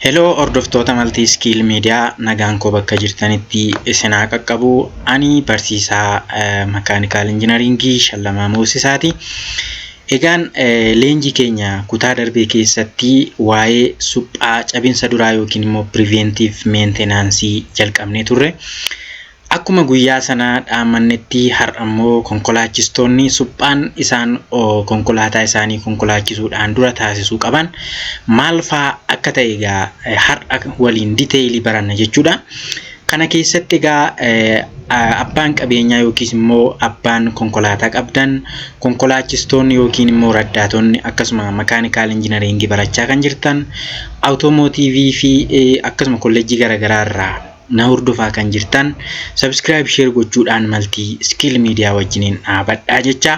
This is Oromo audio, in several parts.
Heloo hordoftoota Maltii Iskiil Miidiyaa nagaan koo bakka jirtanitti isin haa qaqqabu. Ani barsiisaa makaanikaal injinariingii Shallamaa Moosisaati. Egaan leenjii keenya kutaa darbee keessatti waa'ee suphaa cabinsa duraa yookiin immoo piriveentiif meentenaansii jalqabnee turre. Akkuma guyyaa sana dhaammannetti har'ammoo konkolaachistoonni suphaan isaan konkolaataa isaanii konkolaachisuudhaan dura taasisuu qaban maal faa akka ta'e egaa har'a waliin diteeyilii baranna jechuudha. Kana keessatti egaa abbaan qabeenyaa yookiis immoo abbaan konkolaataa qabdan konkolaachistoonni yookiin immoo raddaatonni akkasuma makaanikaal injinariingii barachaa kan jirtan awutoomotiivii fi akkasuma kolleejjii garaagaraa irraa na hordofaa kan jirtan subscribe share gochuudhaan maltii skill media wajjiniin dhaabadhaa jecha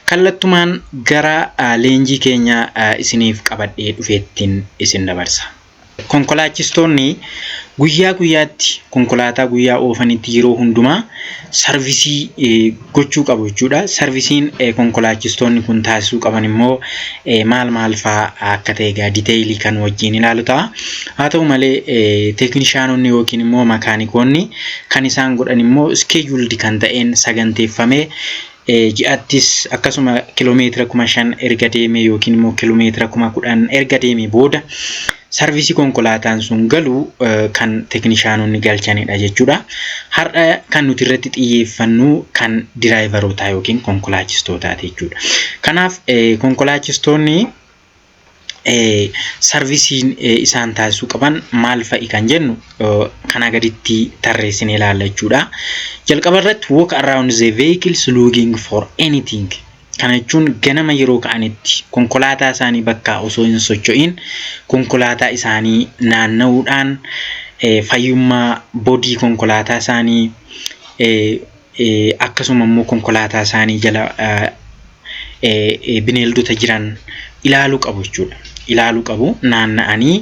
kallattumaan gara leenjii keenya isiniif qabadhee dhufeettiin isin dabarsa. Konkolaachistoonni guyyaa guyyaatti konkolaataa guyyaa oofanitti yeroo hundumaa sarvisii gochuu qabu jechuudha. Sarvisiin konkolaachistoonni kun taasisuu qaban immoo maal maal fa'aa akka ta'e egaa diteeyilii kan wajjin ilaalu ta'a. Haa ta'u malee teeknishaanonni yookiin immoo makaanikoonni kan isaan godhan immoo iskeejuuldi kan ta'een saganteeffamee ji'attis akkasuma kilomeetira kuma shan erga deemee yookiin immoo kilomeetira kuma kudhan erga deemee booda sarvisii konkolaataan sun galu kan teeknishaanonni galchanidha jechuudha. Har'a kan nuti irratti xiyyeeffannu kan diraayivarootaa yookiin konkolaachistootaati jechuudha. Kanaaf konkolaachistoonni sarvisiin isaan taasisuu qaban maal fa'i kan jennu kanaa gaditti tarreessinee ilaalla jechuudha. Jalqaba irratti walk around the vehicles looking for anything Kana jechuun ganama yeroo ka'anitti konkolaataa isaanii bakkaa osoo hin socho'iin konkolaataa isaanii naanna'uudhaan fayyummaa bodii konkolaataa isaanii akkasuma immoo konkolaataa isaanii jala bineeldota jiran ilaaluu qabu jechuudha. ilaalu qabu, naanna'anii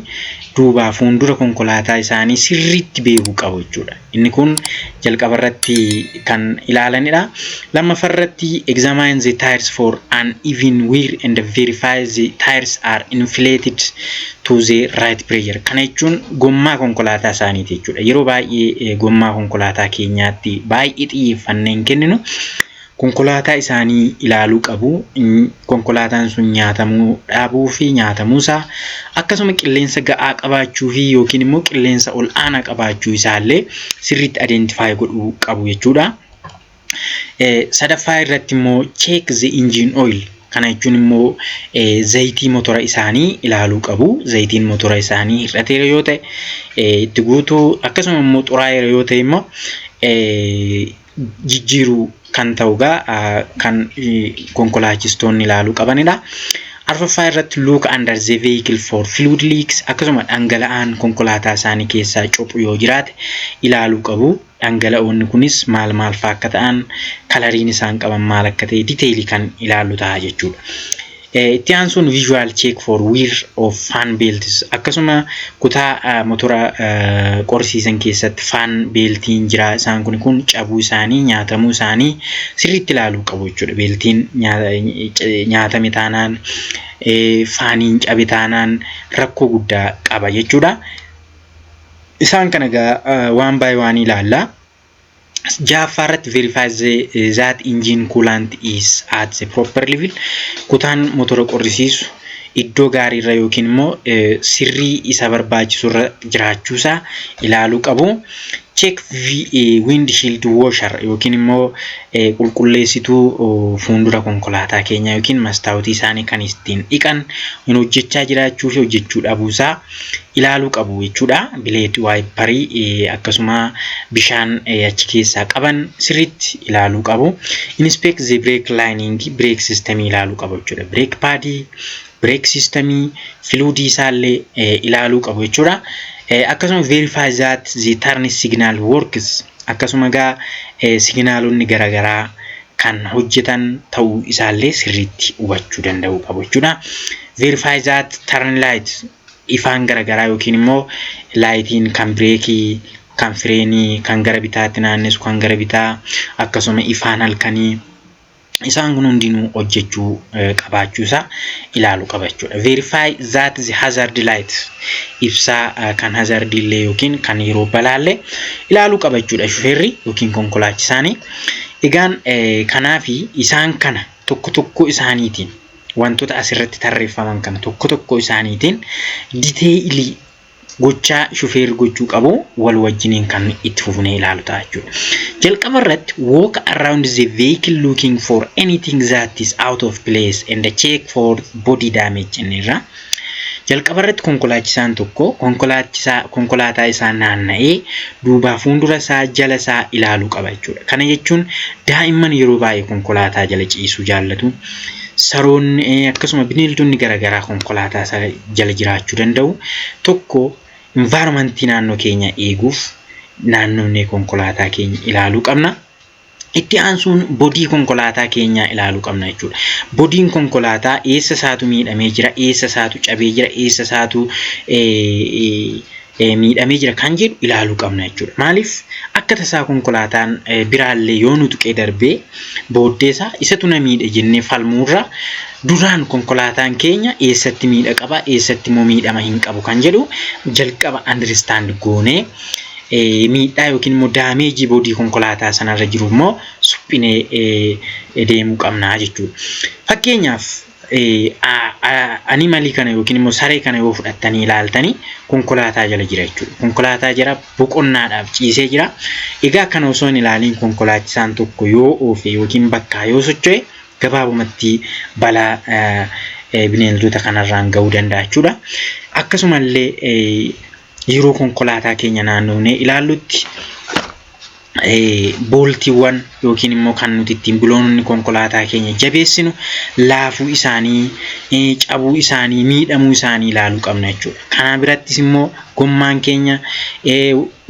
duubaa fuundura konkolaataa isaanii sirriitti beeku qabu jechuudha. Inni kun jalqaba irratti kan ilaalanidha. Lammaffaa irratti examine the tires for an even wear and verify the tires are inflated to the right pressure. Kana jechuun gommaa konkolaataa isaaniiti jechuudha. Yeroo baay'ee gommaa konkolaataa keenyaatti baay'ee xiyyeeffannee hin kenninu. konkolaataa isaanii ilaaluu qabu. Konkolaataan sun nyaatamuu dhaabuu fi nyaatamuu isaa akkasuma qilleensa ga'aa qabaachuu fi yookiin immoo qilleensa ol aanaa qabaachuu isaa illee sirriitti adeentifaayii godhuu qabu jechuudha. Sadaffaa irratti immoo cheek the engine oil kana jechuun immoo zayitii motora isaanii ilaaluu qabu. Zayitiin motora isaanii hir'ateera yoo ta'e itti guutuu akkasuma immoo xuraa'eera yoo ta'e immoo jijjiiru kan ta'u egaa kan konkolaachistoonni ilaaluu qabanidha. Arfaffaa irratti look under the vehicle for fluid leaks akkasuma dhangala'aan konkolaataa isaanii keessaa cophu yoo jiraate ilaaluu qabu. Dhangala'oonni kunis maal maal fa'aa akka ta'an kalariin isaan qaban maal akka ta'e diteelii kan ilaallu ta'a jechuudha. Itti aansuun visual check for wear of fan belts akkasuma kutaa motora qorsiisan keessatti fan beeltiin jira isaan kun kun cabuu isaanii nyaatamuu isaanii sirriitti ilaaluu qabu jechuudha beeltiin nyaatame taanaan faaniin cabe taanaan rakkoo guddaa qaba jechuudha. Isaan kana egaa waan baay'ee waan ilaallaa. Ja'affaa irratti verify the that engine coolant is at the proper level kutaan motora qorrisiisu iddoo gaarii irra yookiin immoo sirrii isa barbaachisu irra jiraachuu isaa ilaaluu qabu. Check windshield washer yookiin immoo qulqulleessituu fuuldura konkolaataa keenyaa yookiin mastaawutii isaanii kan ittiin dhiqan hin hojjechaa jiraachuu fi hojjechuu dhabuu isaa ilaaluu qabu jechuudha. Bileed waayipparii akkasuma bishaan achi keessaa qaban sirriitti ilaaluu qabu. Inspect the brake lining break system ilaaluu qabu jechuudha. Break paadii, break system, filuudii isaallee ilaaluu qabu jechuudha. Akkasuma verify that the turn signal works akkasuma egaa signaalonni garaagaraa kan hojjetan ta'uu isaallee sirriitti hubachuu danda'uu qabu jechuudha. Verify that turn light ifaan garagaraa yookiin immoo laayitiin kan bireekii, kan fireenii, kan gara bitaatti naannessu, kan gara bitaa akkasuma ifaan halkanii isaan kun hundinuu hojjechuu qabaachuu isaa ilaalu qaba jechuudha. Verify that the hazard light ibsaa kan hazardii illee yookiin kan yeroo balaallee ilaaluu qaba jechuudha shufeerri yookiin konkolaachisaanii. Egaan kanaafi isaan kana tokko tokkoo isaaniitiin wantoota asirratti tarreeffaman kana tokko tokko isaaniitiin diteeyilii gochaa shufeerri gochuu qabu wal wajjiniin kan itti fufnee ilaalu ta'a jechuudha. Jalqaba irratti walk around the vehicle looking for anything that is out of place and check for body damage inni irraa. Jalqabarratti konkolaachisaan tokko konkolaachisaa konkolaataa isaa naanna'ee duubaa fuundura isaa jala isaa ilaaluu qaba jechuudha. Kana jechuun daa'imman yeroo baay'ee konkolaataa jala ciisuu jaallatu. Saroonni eh, akkasuma bineeldonni garaagaraa konkolaataa isaa jala jiraachuu danda'u. Tokko environmentii naannoo keenya eeguuf naannofnee konkolaataa keenya ilaaluu qabna. Itti aansuun bodii konkolaataa keenyaa ilaaluu qabna jechuudha. Bodiin konkolaataa eessa isaatu miidhamee jira, eessa isaatu cabee jira, eessa isaatu miidhamee jira kan jedhu ilaaluu qabna jechuudha. Maaliif akka tasaa konkolaataan biraallee yoo nu tuqee darbee booddee isaa isatu na miidhe jennee falmuurra duraan konkolaataan keenya eessatti miidha qaba, eessatti immoo miidhama hin qabu kan jedhu jalqaba understand goonee miidhaa yookiin immoo daameejii boodii konkolaataa sanarra jiru immoo suphinee deemuu qabna jechuudha. Fakkeenyaaf animalii kana yookiin immoo saree kana yoo fudhattanii ilaaltanii konkolaataa jala jira jechuudha. Konkolaataa jala boqonnaadhaaf ciisee jira. Egaa kana osoo hin ilaaliin konkolaachisaan tokko yoo oofe yookiin bakkaa yoo socho'e gabaabumatti balaa bineeldota kanarraan ga'uu danda'a jechuudha. Akkasumallee yeroo konkolaataa keenya naannofnee ilaallutti booltiiwwan yookiin immoo kan nuti ittiin biloonni konkolaataa keenya jabeessinu laafuu isaanii, cabuu isaanii, miidhamuu isaanii ilaaluu qabna jechuudha. Kana birattis immoo gommaan keenya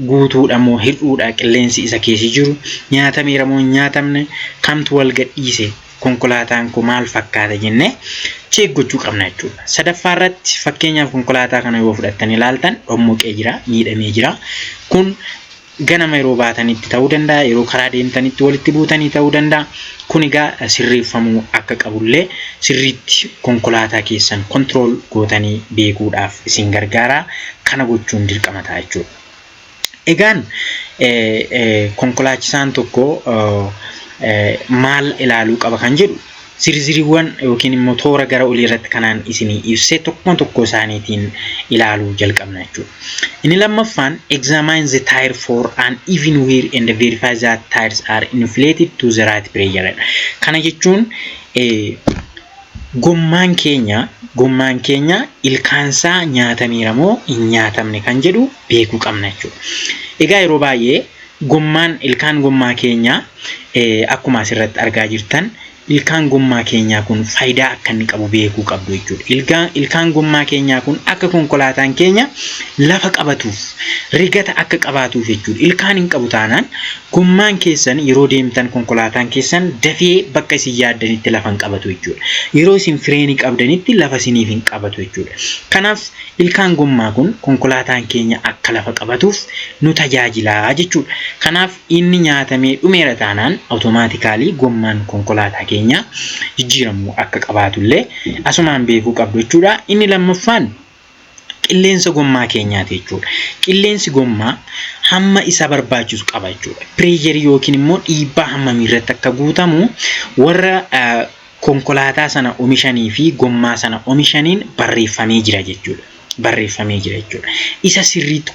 guutuudha moo hir'uudha qilleensi isa keessa jiru nyaatameera moo hin nyaatamne kamtu wal gadhiise konkolaataan koo maal fakkaata jennee cheek gochuu qabna jechuudha. Sadaffaa irratti fakkeenyaaf konkolaataa kana yoo fudhattan ilaaltan dhommoqee jira, miidhamee jira. Kun ganama yeroo baatanitti ta'uu danda'a, yeroo karaa deemtanitti walitti buutanii ta'uu danda'a. Kun egaa sirreeffamuu akka qabullee sirriitti konkolaataa keessan kontirool gootanii beekuudhaaf isin gargaara. Kana gochuun dirqama ta'a jechuudha. Egaan konkolaachisaan tokko maal ilaaluu qaba kan jedhu zirziriiwwan yookiin immoo toora gara olii irratti kanaan isinii ibsee tokkoon tokkoo isaaniitiin ilaaluu jalqabna jechuudha. Inni lammaffaan examine the tire for an even wear and verify that tires are inflated to the right pressure. Kana jechuun Gommaan keenya gommaan keenya ilkaansaa nyaatameera moo hin nyaatamne kan jedhu beekuu qabna jechuudha. Egaa yeroo baay'ee gommaan ilkaan gommaa keenyaa akkuma asirratti argaa jirtan ilkaan gommaa keenyaa kun faayidaa akka inni qabu beekuu qabdu jechuudha. Ilkaan gommaa keenyaa kun akka konkolaataan keenya lafa qabatuuf rigata akka qabaatuuf jechuudha. Ilkaan hin qabu taanaan Gommaan keessan yeroo deemtan konkolaataan keessan dafee bakka isin yaaddanitti lafa hin qabatu jechuudha. Yeroo isin fireenii qabdanitti lafa isiniif hin qabatu jechuudha. Kanaaf ilkaan gommaa kun konkolaataan keenya akka lafa qabatuuf nu tajaajila jechuudha. Kanaaf inni nyaatamee dhumeera taanaan awutomaatikaalii gommaan konkolaataa keenyaa jijjiiramuu akka qabaatullee asumaan beekuu qabdu jechuudha. Inni lammaffaan qilleensa gommaa keenyaati jechuudha. Qilleensi gommaa hamma isa barbaachisu qaba jechuudha. Pireejerii yookiin immoo dhiibbaa hammamii irratti akka guutamu warra konkolaataa sana omishanii fi gommaa sana omishaniin barreeffamee jira jechuudha. Barreeffamee jira jechuudha. Isa sirriitti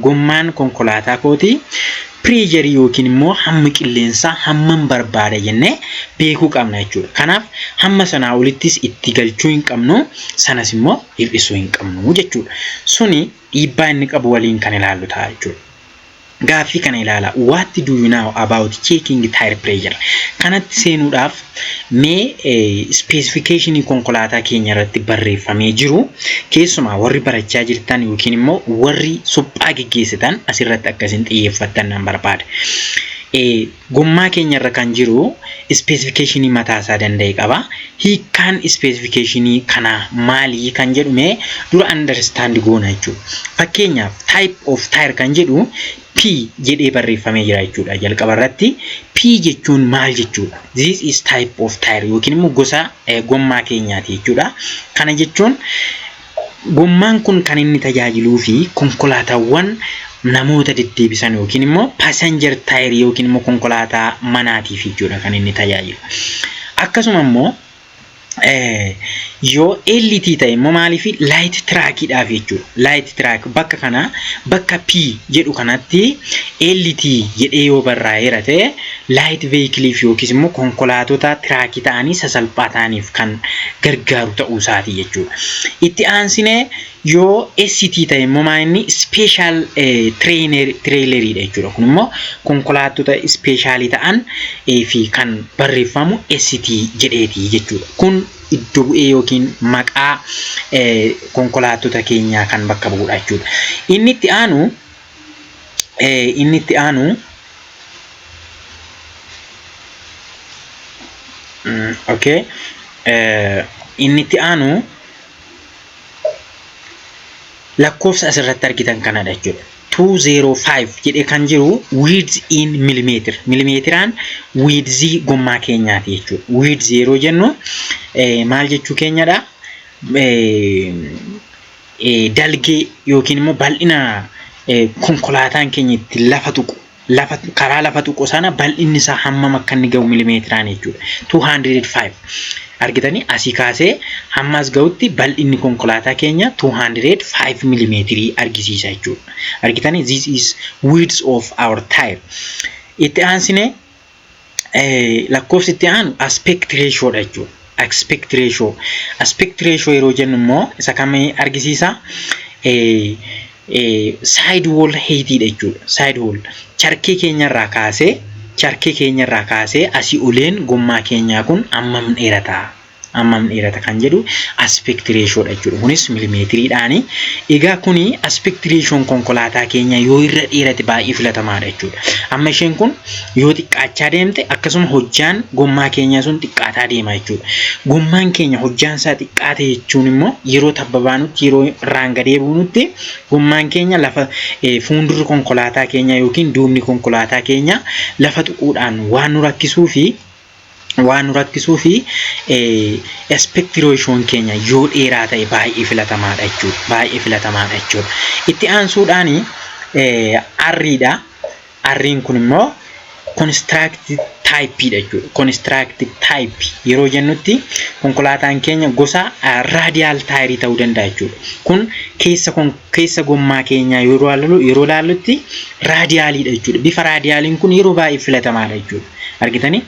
gommaan konkolaataa kootii Pressure yookiin immoo hammi qilleensaa hamman barbaada jennee beekuu qabna jechuudha. Kanaaf hamma sanaa olittis itti galchuu hin qabnu, sanas immoo hir'isuu hin qabnu jechuudha. Suni dhiibbaa inni qabu waliin kan ilaallu ta'a jechuudha. Gaaffii kana ilaala. What do you know about checking tire pressure? Kanatti seenuudhaaf Mee ispeesifikeeshinii konkolaataa keenya irratti barreeffamee jiru keessumaa warri barachaa jirtan yookiin immoo warri suphaa geggeessitan asirratti akka isin xiyyeeffattan nan barbaada. Gommaa keenya irra kan jiru ispeesifikeeshinii mataa isaa danda'e qaba. Hiikkaan ispeesifikeeshinii kanaa maali kan jedhu mee dura andarstaandi goona jechuudha. Fakkeenyaaf type of tire kan jedhu P jedhee barreeffamee jira jechuudha jalqaba irratti. P jechuun maal jechuudha? This is type of tire yookiin immoo gosa gommaa keenyaati jechuudha. Kana jechuun gommaan kun kan inni tajaajiluu fi konkolaataawwan namoota deddeebisan yookiin immoo passenger tire yookiin immoo konkolaataa manaatiif jechuudha kan inni tajaajilu. Akkasuma immoo yoo LT ta'e immoo maaliif laayit tiraakiidhaaf jechuudha. Laayit tiraak bakka kana bakka P jedhu kanatti LT jedhee yoo barraa'eera ta'e laayit veeyikiliif yookiis immoo konkolaatota tiraakii ta'anii sasalphaa ta'aniif kan gargaaru ta'uu isaati jechuudha. Itti aansinee Yoo ST ta'e immoo maa inni special trailer dha jechuudha. Kun immoo konkolaattota special ta'an fi kan barreeffamu ST jedheeti jechuudha. Kun iddo bu'ee yookiin maqaa konkolaattota keenyaa kan bakka bu'udha jechuudha. Inni itti aanu inni itti aanu okay inni itti aanu lakkoofsa asirratti argitan kanadha jechuudha. 205 jedhee kan jiru width in millimeter millimeteraan wiidzii gommaa keenyaati jechuudha. Width yeroo jennu eh, maal jechuu keenyadha? Eh, eh, dalgee yookiin immoo bal'ina eh, konkolaataan keenya ittiin lafa tuqu lafa karaa lafa tuqu sana bal'inni isaa hammam akka inni ga'u milimeetiraan jechuudha. 205 argitanii asii kaasee hamma as ga'utti bal'inni konkolaataa keenya 205 milimeetirii argisiisa jechuudha. Argitanii this is width of our tire. Itti aansinee lakkoofsi itti aanu aspect ratio dha jechuudha. Aspect ratio. Aspect ratio yeroo jennu immoo isa kam argisiisa? Side wall height dha jechuudha. Side wall. Charkii keenyarraa kaasee charkii keenyarraa kaasee asii oleen gommaa keenyaa kun ammam dheerata? hammam dheerata kan jedhu aspect ratio dha jechuudha. Kunis milimeetiriidhaani. Egaa kuni aspect ratio konkolaataa keenya yoo irra dheerate baay'ee filatamaadha jechuudha. Amma isheen kun yoo xiqqaachaa deemte akkasuma hojjaan gommaa keenyaa sun xiqqaataa deema jechuudha. Gommaan keenya hojjaan isaa xiqqaate jechuun immoo yeroo tabba baanutti yeroo irraan gadee buunutti gommaan keenya lafa eh, fuundurri konkolaataa keenyaa yookiin duubni konkolaataa keenyaa lafa tuquudhaan waan nu rakkisuu fi waan nu rakkisuu fi aspect ratioon keenya yoo dheeraa ta'e baay'ee filatamaadha jechuudha. Baay'ee filatamaadha jechuudha. Itti aansuudhaan arriidha. Arriin kun immoo construct type dha jechuudha. Construct type yeroo jennutti konkolaataan keenya gosa radial tire ta'uu danda'a jechuudha. Kun keessa keessa gommaa keenyaa yeroo ilaalu- yeroo ilaallutti raadiyaaliidha jechuudha. Bifa raadiyaaliin kun yeroo baay'ee filatamaadha jechuudha. Argitanii?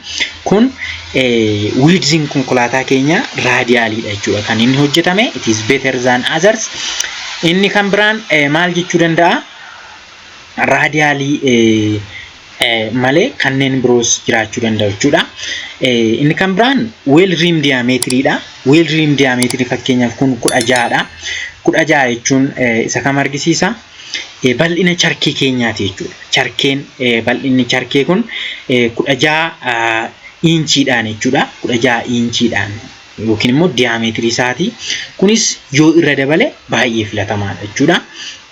Kun eh, wiidziin konkolaataa keenyaa raadiyaaliidha jechuudha. Kan inni hojjetame it is better than others. Inni kan biraan eh, maal jechuu danda'a? Raadiyaalii eh, malee kanneen biroos jiraachuu danda'u jechuudha. Inni kan biraan weel riim diyaameetiriidha. Weel riim diyaameetirii fakkeenyaaf kun kudha ja'adha. Kudha ja'a jechuun isa kam argisiisa? Bal'ina charkee keenyaati jechuudha. Charkeen bal'inni charkee kun kudha ja'a iinchiidhaan jechuudha. Kudha ja'a iinchiidhaan. yookiin immoo diyaameetirii isaati. Kunis yoo irra dabale baay'ee filatamaadha jechuudha.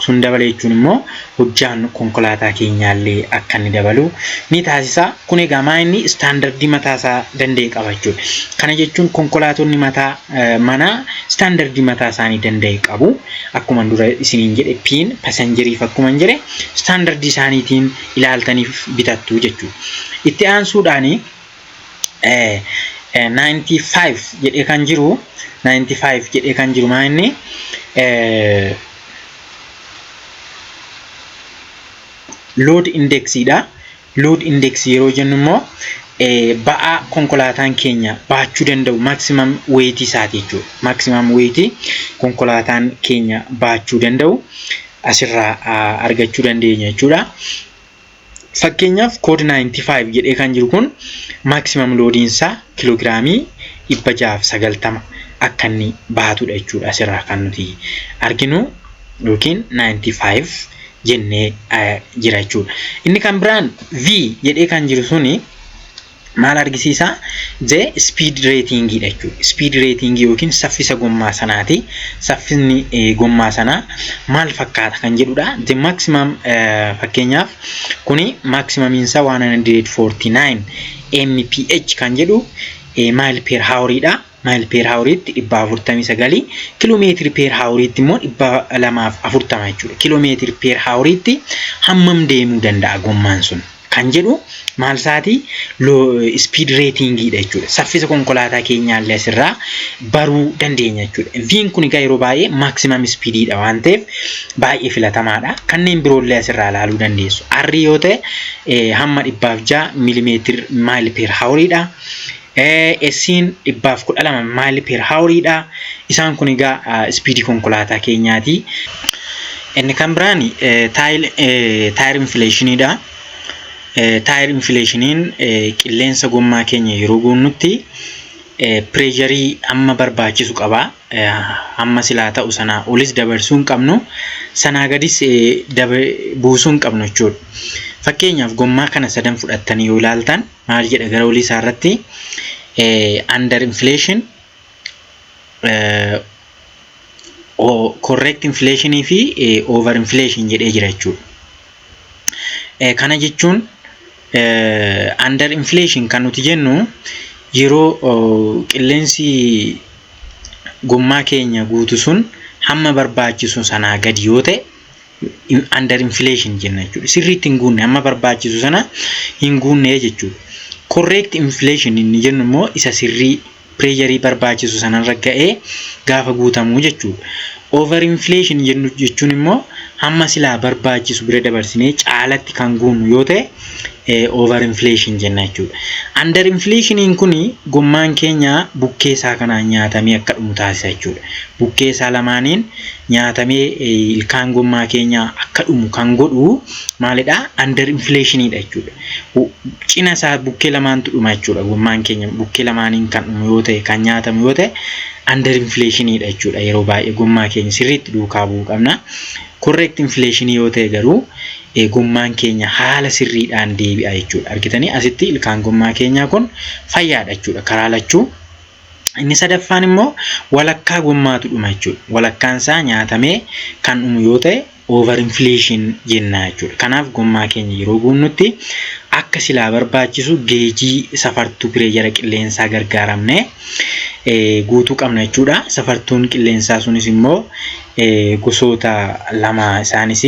Sun dabale jechuun immoo hojjaan konkolaataa keenyaallee akka inni dabalu ni taasisa. Kun egaa maa inni istaandardii mataa isaa danda'e qaba jechuudha. Kana jechuun konkolaatonni mataa manaa istaandardii mataa isaanii danda'e qabu. Akkuma dura isiniin jedhe piin pasanjeriif akkuma hin jedhe istaandardii isaaniitiin ilaaltaniif bitattu jechuudha. Itti aansuudhaanii 95 jedhee kan jiru 95 jedhee kan jiru maa inni load indexiidha. Load index yeroo jennu immoo ba'aa konkolaataan keenya baachuu danda'u maximum weight isaati jechuudha. Maximum weight konkolaataan keenya baachuu danda'u asirraa argachuu dandeenya jechuudha. Fakkeenyaaf kood 95 jedhee kan jiru kun maaksimaam loodiin isaa kiloogiraamii 690 akka inni baatudha jechuudha asirraa kan nuti arginu yookiin 95 jennee jira jechuudha. Inni kan biraan V jedhee kan jiru suni maal argisiisa? J speed rating dha jechuudha. Speed rating yookiin saffisa gommaa sanaati. Saffisni gommaa sanaa maal fakkaata kan jedhudha. The maximum fakkeenyaaf kuni maximum insa 149 mph kan jedhu mile per hour dha. maayil peer haawuriitti dhibba afurtamii sagalii kiloomeetiri peer haawuriitti immoo dhibba lamaaf afurtama jechuudha. Kiloomeetiri peer haawuriitti hammam deemuu danda'a gommaan sun kan jedhu maal isaatii ispiid reetiingiidha jechuudha. Saffisa konkolaataa keenyaallee asirraa baruu dandeenya jechuudha. Viin kun egaa yeroo baay'ee maaksimam ispiidiidha waan ta'eef baay'ee filatamaadha. Kanneen biroollee asirraa ilaaluu dandeessu. Arrii yoo ta'e hamma dhibbaaf ja'a milimeetir maayil peer haawuriidha. Esiin 112 maayili per haaworiidha. Isaan kun egaa ispiidii konkolaataa keenyaati. Inni kan biraan taayir infileeshiniidha. Taayir infileeshiniin qilleensa gommaa keenya yeroo guunnutti pireesharii hamma barbaachisu qaba. Hamma silaa ta'u sanaa olis dabarsuu hin qabnu. Sanaa gadis buusuu hin qabnu jechuudha. Fakkeenyaaf gommaa kana sadan fudhattanii yoo ilaaltan. maal jedha gara olii isaa irratti under inflation correct inflation fi over inflation jedhee jira jechuudha. Kana jechuun under inflation kan nuti jennu yeroo qilleensi gommaa keenya guutu sun hamma barbaachisu sanaa gadi yoo ta'e under inflation jenna jechuudha. Sirriitti hin guunne amma barbaachisu sana hin guunne jechuudha. Correct inflation inni jennu immoo isa sirrii pireesharii barbaachisu sanarra ga'ee gaafa guutamu jechuudha. Over inflation jennu jechuun immoo hamma silaa barbaachisu bira dabarsinee caalatti kan guunnu yoo ta'e over inflation jenna jechuudha. Under inflationiin kun gommaan keenya bukkee isaa kanaan nyaatamee akka dhumu taasisa jechuudha. Bukkee isaa lamaaniin nyaatamee ilkaan gommaa keenya akka dhumu kan godhu maalidha? Under inflationiidha jechuudha. Cina isaa bukkee lamaantu dhuma jechuudha. Gommaan keenya bukkee lamaaniin kan dhumu yoo ta'e kan nyaatamu yoo ta'e under inflationiidha jechuudha. Yeroo baay'ee gommaa keenya sirriitti duukaa bu'uu qabna. Correct inflation yoo ta'e garuu gommaan keenya haala sirriidhaan deebi'a jechuudha. Argitanii asitti ilkaan gommaa keenyaa kun fayyaadha jechuudha karaa lachuu. Inni sadaffaan immoo walakkaa gommaatu dhuma jechuudha. Walakkaan isaa nyaatamee kan dhumu yoo ta'e over inflation jennaa jechuudha. Kanaaf gommaa keenya yeroo guunnutti akka silaa barbaachisu geejii safartuu pireejara qilleensaa gargaaramne guutuu qabna jechuudha. Safartuun qilleensaa sunis immoo gosoota lama isaanis.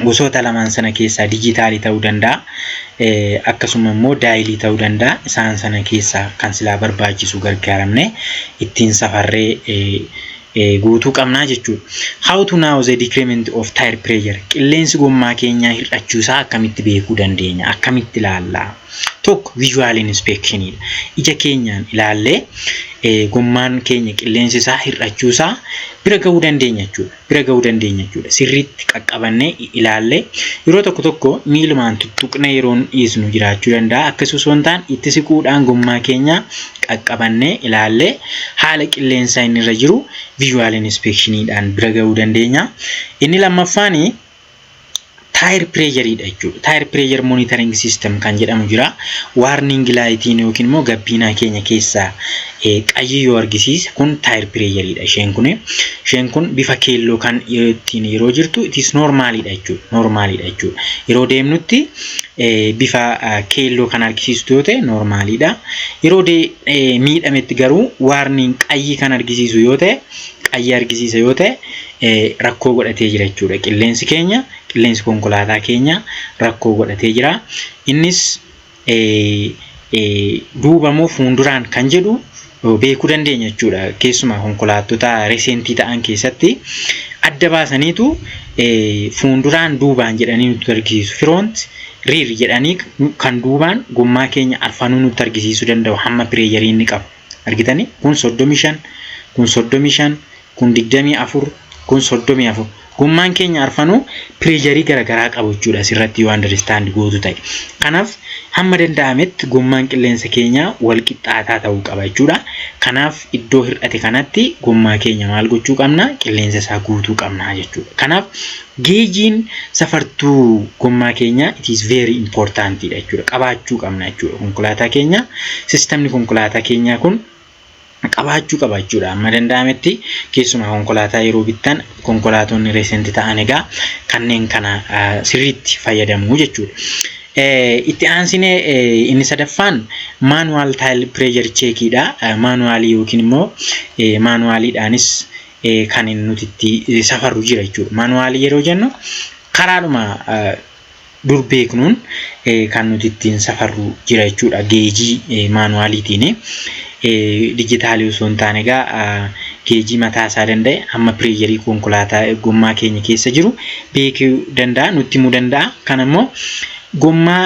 gosoota lamaan sana keessaa dijitaalii ta'uu danda'a. Akkasuma immoo daayilii ta'uu danda'a. Isaan sana keessaa kan silaa barbaachisu gargaaramne ittiin safarree guutuu qabnaa jechuudha. How to now the decrement of tire pressure qilleensi gommaa keenyaa hir'achuu isaa akkamitti beekuu dandeenya? Akkamitti ilaalla? Tokko visual inspection dha. Ija keenyaan ilaallee gommaan keenya qilleensi isaa hir'achuu isaa bira ga'uu dandeenya jechuudha. bira ga'uu dandeenya jechuudha. Sirriitti qaqqabannee ilaallee yeroo tokko tokko miilumaan tuttuqnee yeroon dhiisnu jiraachuu danda'a. Akkas osoo hin taane itti siquudhaan gommaa keenya qaqqabannee ilaallee haala qilleensaa inni irra jiru visual inspectioniidhaan bira ga'uu dandeenya. Inni lammaffaan taayir pireeyariidha jechuudha. Taayir pireeyar monitoring system kan jedhamu jira. Waarning laayitiin yookiin immoo gabbiinaa keenya keessaa qayyii yoo argisiise kun taayir pireeyariidha. Isheen kun isheen kun bifa keelloo kan ittiin yeroo jirtu itis noormaaliidha jechuudha. Noormaaliidha jechuudha. Yeroo deemnutti bifa keelloo kan argisiistu yoo ta'e noormaaliidha. Yeroo miidhametti garuu waarning qayyii kan argisiisu yoo ta'e qayyii argisiisa yoo ta'e rakkoo godhatee jira jechuudha. Qilleensi keenya qilleensi konkolaataa keenya rakkoo godhatee jira. Innis duuba moo fuunduraan kan jedhu beekuu dandeenya jechuudha. Keessumaa konkolaattota resentii ta'an keessatti adda baasaniitu fuunduraan duubaan jedhanii nutti argisiisu. Firoont riir jedhanii kan duubaan gommaa keenya arfanuu nutti argisiisuu danda'u hamma pireeyarii inni qabu. Argitanii kun 35 kun 35 kun 24 kun 34 gommaan keenya arfanuu pireesharii garaagaraa qabu jechuudha asirratti yoo andaristaaند gootu ta'e kanaaf hamma danda'ametti gommaan qilleensa keenyaa wal qixxaataa ta'uu qaba jechuudha kanaaf iddoo hir'ate kanatti gommaa keenya maal gochuu qabna qilleensa isaa guutuu qabna jechuudha kanaaf geejiin safartuu gommaa keenyaa it is very important dha jechuudha qabaachuu qabna jechuudha konkolaataa keenya sistemni konkolaataa keenyaa kun qabaachuu qaba jechuudha. Amma danda'ametti keessumaa konkolaataa yeroo bittan konkolaatonni reesenti ta'an egaa kanneen kana sirriitti fayyadamu jechuudha. Itti aansine inni sadaffaan maanuwaal taayil pireejar cheekiidha. Maanuwaalii yookiin immoo maanuwaaliidhaanis kan nuti itti safarru jira jechuudha. Maanuwaalii yeroo jennu karaadhuma dur beeknuun kan nuti ittiin safarru jira jechuudha geejii maanuwaaliitiin dijitaalii osoo hin taane egaa geejii mataa isaa danda'e amma pireejarii konkolaataa gommaa keenya keessa jiru beekuu danda'a nutti himuu danda'a kan ammoo gommaa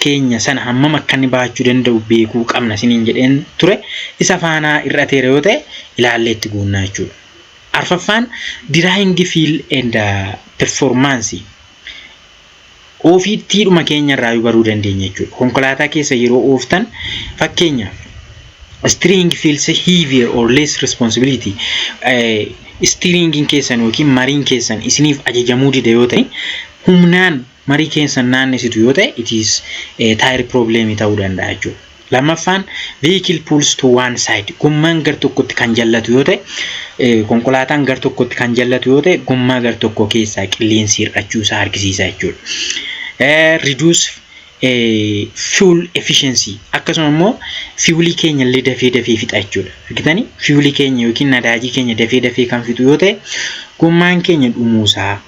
keenya sana hammam akka inni baachuu danda'u beekuu qabna isiniin jedheen ture isa faanaa ir'ateera yoo ta'e ilaallee itti guunnaa jechuudha. Arfaffaan Diraayingi Fiil eenda Performaansi. Ofiittiidhuma keenya irraayu baruu dandeenya jechuudha. Konkolaataa keessa yeroo ooftan fakkeenyaaf Steering feels heavier or less responsibility. Steeringin keessan yookiin mariin keessan isiniif ajajamuu dida yoo ta'e humnaan marii keessan naannesitu yoo ta'e it is taayir piroobileemii ta'uu danda'a jechuudha. Lammaffaan vehicle pulls to one side gommaan gar tokkotti kan jallatu yoo ta'e konkolaataan gar tokkotti kan jallatu yoo ta'e gommaa gar tokko keessaa qilleensi hir'achuu isaa argisiisa jechuudha. Reduce fuel efficiency akkasuma immoo fiwulii keenya illee dafee dafee fixa jechuudha. Argitanii fiwulii keenya yookiin nadaajii keenya dafee dafee kan fixu yoo ta'e gommaan keenya dhumuusaa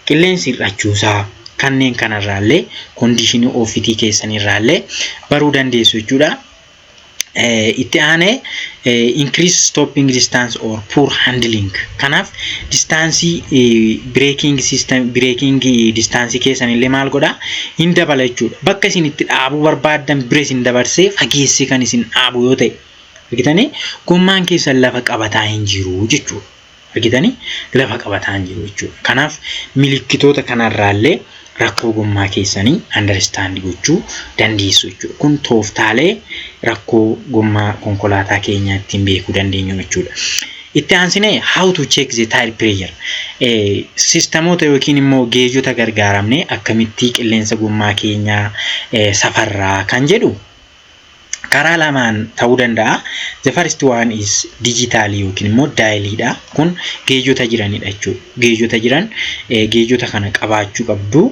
qilleensi hir'achuusaa kanneen kanarraallee kondiishinii ofitii keessanirraallee baruu dandeessu jechuudha. Itti aanee increase stopping distance or poor handling. Kanaaf distaansii breaking system breaking distaansii keessanillee maal godha hin dabala jechuudha. Bakka isin itti dhaabuu barbaaddan bira isin dabarsee fageessee kan isin dhaabu yoo ta'e argitanii gommaan keessan lafa qabataa hin jiru jechuudha. argitanii lafa qabataan jiru jechuudha. Kanaaf milikkitoota kanarraallee rakkoo gommaa keessanii understand gochuu dandeessu jechuudha. Kun tooftaalee rakkoo gommaa konkolaataa keenyaa ittiin beekuu dandeenyu jechuudha. Itti aansinee how to check the tire pressure eh, sistemoota yookiin immoo geejota gargaaramnee akkamittii qilleensa gommaa keenyaa eh, safarraa kan jedhu karaa lamaan ta'uu danda'a. The first one is digital yookiin immoo daayiliidha. Kun geejota jiranidha jechuudha. Geejota jiran geejota kana qabaachuu qabdu.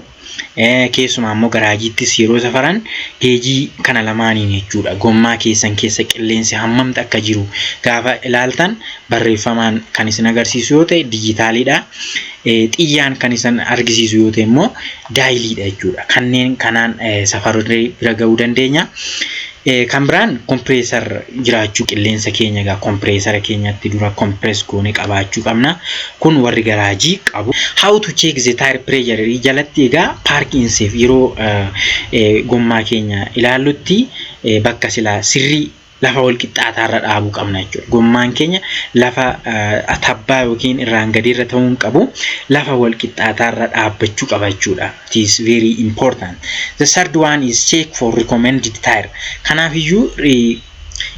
Keessumaa immoo garaajiittis yeroo safaran geejii kana lamaaniin jechuudha. Gommaa keessan keessa qilleensi hammamti akka jiru gaafa ilaaltan barreeffamaan kan isin agarsiisu yoo ta'e dijitaaliidha. Xiyyaan kan isin argisiisu yoo ta'e immoo daayiliidha jechuudha. Kanneen kanaan safarree bira ga'uu dandeenya. Kan biraan kompireesar jiraachuu qilleensa keenya egaa kompireesara keenyatti dura kompirees goone qabaachuu qabna. Kun warri garaajii qabu. How to check the tire pressure jalatti egaa paarkii inseef yeroo gommaa keenya ilaallutti bakka silaa sirrii lafa walqixxaataa irra dhaabuu qabna jechuudha. Gommaan keenya lafa tabbaa yookiin irraan gadii irra ta'uu hin qabu. Lafa walqixxaataa irra dhaabbachuu qaba jechuudha. It is very important. The third one is check for recommended tire. Kanaaf iyyuu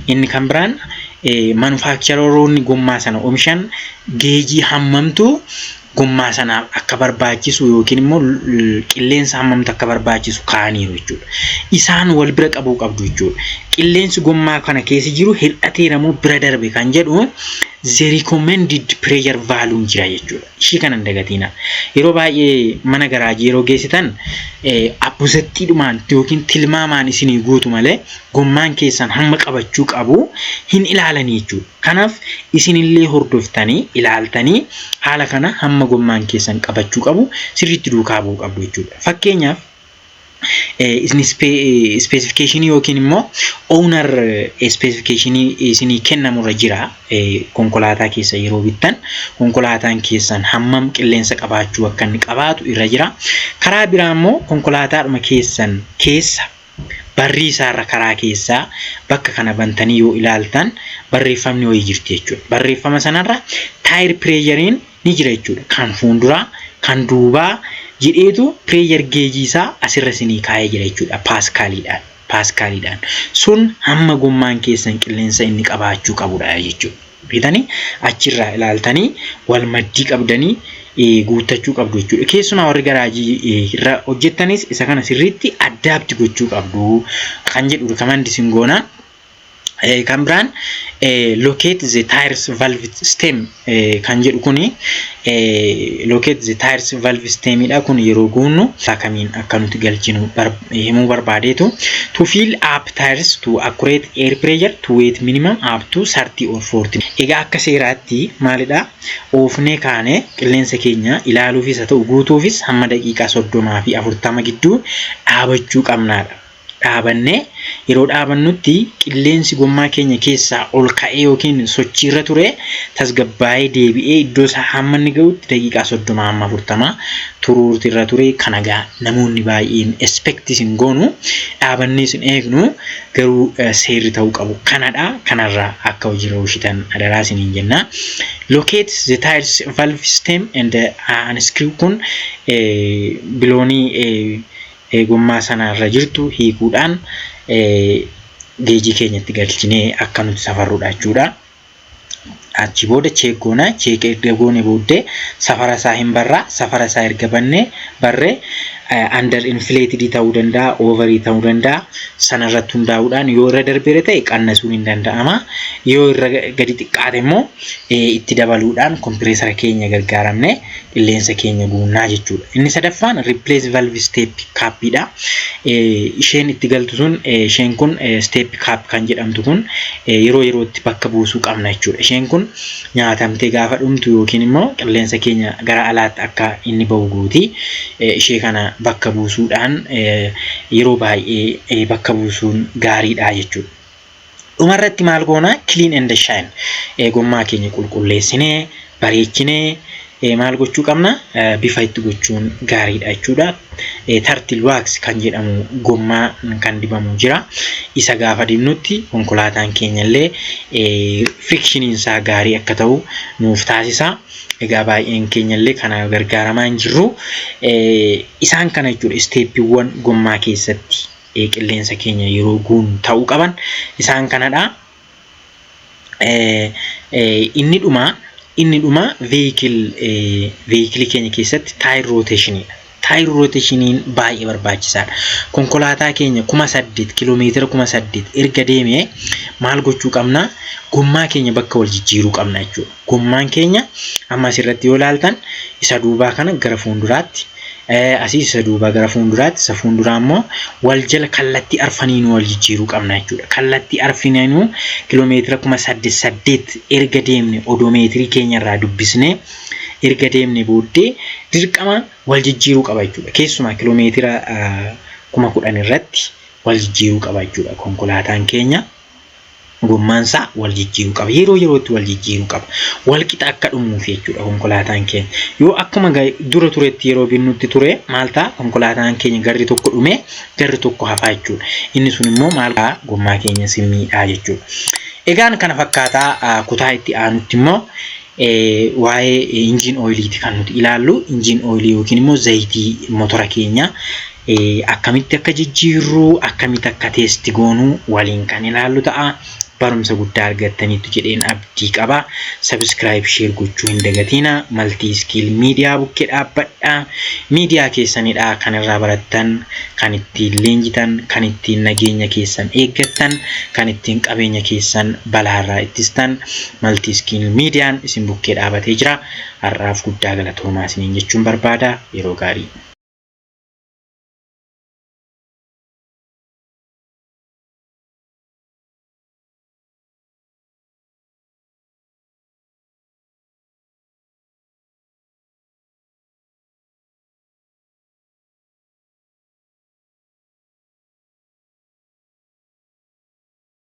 inni kan biraan manufaaktcharoonni gommaa sana omishan geejii hammamtu gommaa sanaaf akka barbaachisu yookiin immoo qilleensa hammamtu akka barbaachisu kaa'aniiru jechuudha. Isaan wal bira qabuu qabdu jechuudha. Qilleensi gommaa kana keessa jiru hir'ateera moo bira darbe kan jedhu the recommended pressure value jira jechuudha. Ishii kana hin dagatiina. Yeroo baay'ee mana garaajii yeroo geessitan abbusettiidhumaan yookiin tilmaamaan isinii guutu malee gommaan keessan hamma qabachuu qabu hin ilaalanii jechuudha. Kanaaf isinillee hordoftanii, ilaaltanii haala kana hamma gommaan keessan qabachuu qabu sirriitti duukaa bu'uu qabdu jechuudha. Fakkeenyaaf isin ispeesifikeeshinii yookiin immoo ownar ispeesifikeeshinii isinii kennamurra jira konkolaataa keessa yeroo bittan konkolaataan keessan hammam qilleensa qabaachuu akka inni qabaatu irra jira. Karaa biraa immoo konkolaataadhuma keessan keessa Barrii isaa irra karaa keessaa bakka kana bantanii yoo ilaaltan barreeffamni wayii jirti jechuudha. Barreeffama sanarra taayir pireeyariin ni jira jechuudha. Kan fuulduraa, kan duubaa jedheetu pireeyar geejii isaa asirra isinii kaa'ee jira jechuudha. Paaskaaliidhaan. Paaskaaliidhaan. Sun hamma gommaan keessan qilleensa inni qabaachuu qabudha jechuudha. bitanii achirraa ilaaltanii wal maddii qabdanii guuttachuu qabdu jechuudha. Keessumaa warri garaajii irra hojjettanis isa kana sirriitti addaabti gochuu qabdu kan jedhu rikamandi sin goona. Kan biraan locate the tires valve stem kan jedhu kuni locate the tires valve stemidha kun yeroo goonu kamiin akka nuti galchinu himuu barbaadeetu to fill up tires to accurate air pressure to weight minimum up to 30 or 40 egaa akka seeraatti maalidha oofnee kaanee qilleensa keenya ilaaluufis haa ta'u guutuufis hamma daqiiqaa 30 fi 40 gidduu dhaabachuu qabnaadha dhaabannee yeroo dhaabannutti qilleensi gommaa keenya keessaa ol ka'ee yookiin sochiirra ture tasgabbaa'ee deebi'ee iddoo isaa hamma inni ga'utti daqiiqaa 30 hamma 40 turuurti irra ture kana egaa namoonni baay'een expectis hin goonu dhaabannees hin eegnu garuu seerri ta'uu qabu kanadha kanarra akka hojiirra oolchitan adaraa isiniin jenna locate the tires valve stem and unscrew kun biloonii gommaa sana irra jirtu hiikuudhaan geejii keenyatti galchinee akka nuti safarrudha jechuudha. Achi booda cheek goona. Cheek erga goone booddee safara isaa hin barraa. Safara isaa erga bannee barree under inflated ta'uu danda'a, overii ta'uu danda'a. Sana irratti hundaa'uudhaan yoo irra darbeera ta'e qannasuun hin danda'ama. Yoo irra gadi xiqqaate immoo itti dabaluudhaan kompireesara keenya gargaaramne qilleensa keenya guunnaa jechuudha. Inni sadaffaan replace valve step cap dha. Isheen itti galtu sun isheen kun step cap kan jedhamtu kun yeroo yerootti bakka buusuu qabna jechuudha. Isheen kun nyaatamtee gaafa dhumtu yookiin immoo qilleensa keenya gara alaatti akka inni bahu gooti. Ishee kana bakka buusuudhaan yeroo baay'ee bakka buusuun gaariidha jechuudha. Dhuma irratti maal goona? Clean and shine. Eh, Gommaa keenya qulqulleessinee, bareechinee eh, maal gochuu qabna? Eh, Bifa itti gochuun gaariidha jechuudha. Eh, Turtle wax kan jedhamu gommaa kan dibamu jira. Isa gaafa dibnutti konkolaataan keenya illee eh, frictioniin isaa gaarii akka ta'u nuuf taasisa. Egaa baay'een keenya illee kana gargaaramaa hin jirru. Eh, Isaan kana jechuudha isteeppiiwwan gommaa keessatti. qilleensa keenya yeroo guunu ta'uu qaban isaan kanadha. Inni dhumaa inni dhumaa veeyikilii keenya keessatti taayir rooteeshiniidha. Taayir rooteeshiniin baay'ee barbaachisaadha. Konkolaataa keenya kuma saddeet kiloomeetira kuma saddeet erga deemee maal gochuu qabna? Gommaa keenya bakka wal jijjiiruu qabna jechuudha. Gommaan keenya amma asirratti yoo ilaaltan isa duubaa kana gara fuulduraatti asii isa duubaa gara fuulduraatti isa fuulduraa immoo wal jala kallattii arfaniinuu wal jijjiiruu qabna jechuudha. Kallattii arfaniinuu kiloomeetira kuma saddeet saddeet erga deemne odoomeetirii keenyarraa dubbisnee erga deemne booddee dirqama wal jijjiiruu qaba jechuudha. Keessumaa kiloomeetira kuma kudhan irratti wal jijjiiruu qaba jechuudha konkolaataan keenya. gommaan isaa wal jijjiiruu qaba. Yeroo yerootti wal jijjiiruu qaba. Wal qixa akka dhumuuf jechuudha konkolaataan keenya. Yoo akkuma dura turetti yeroo binnutti ture maal ta'a konkolaataan keenya garri tokko dhumee garri tokko hafaa jechuudha. Inni sun immoo maal gommaa keenya simmiidhaa jechuudha. Egaan kana fakkaataa kutaa itti aanutti immoo waa'ee injiin ooyiliiti kan nuti ilaallu. Injiin ooyilii yookiin immoo zayitii motora keenya akkamitti akka jijjiirru, akkamitti akka teesti goonu waliin kan ilaallu ta'a. Barumsa guddaa argattaniitu jedheen abdii qaba. Sabiskiraayib sheer gochuu hin dagatiina. Maltii iskiil miidiyaa bukkee dhaabbadha. Miidiyaa keessanidha kan irraa barattan, kan ittiin leenjitan, kan ittiin nageenya keessan eeggattan, kan ittiin qabeenya keessan balaarraa ittistan. Maltiiskiin Miidiyaan isin bukkee dhaabatee jira. Har'aaf guddaa galatoomaa isiniin jechuun barbaada. Yeroo gaarii.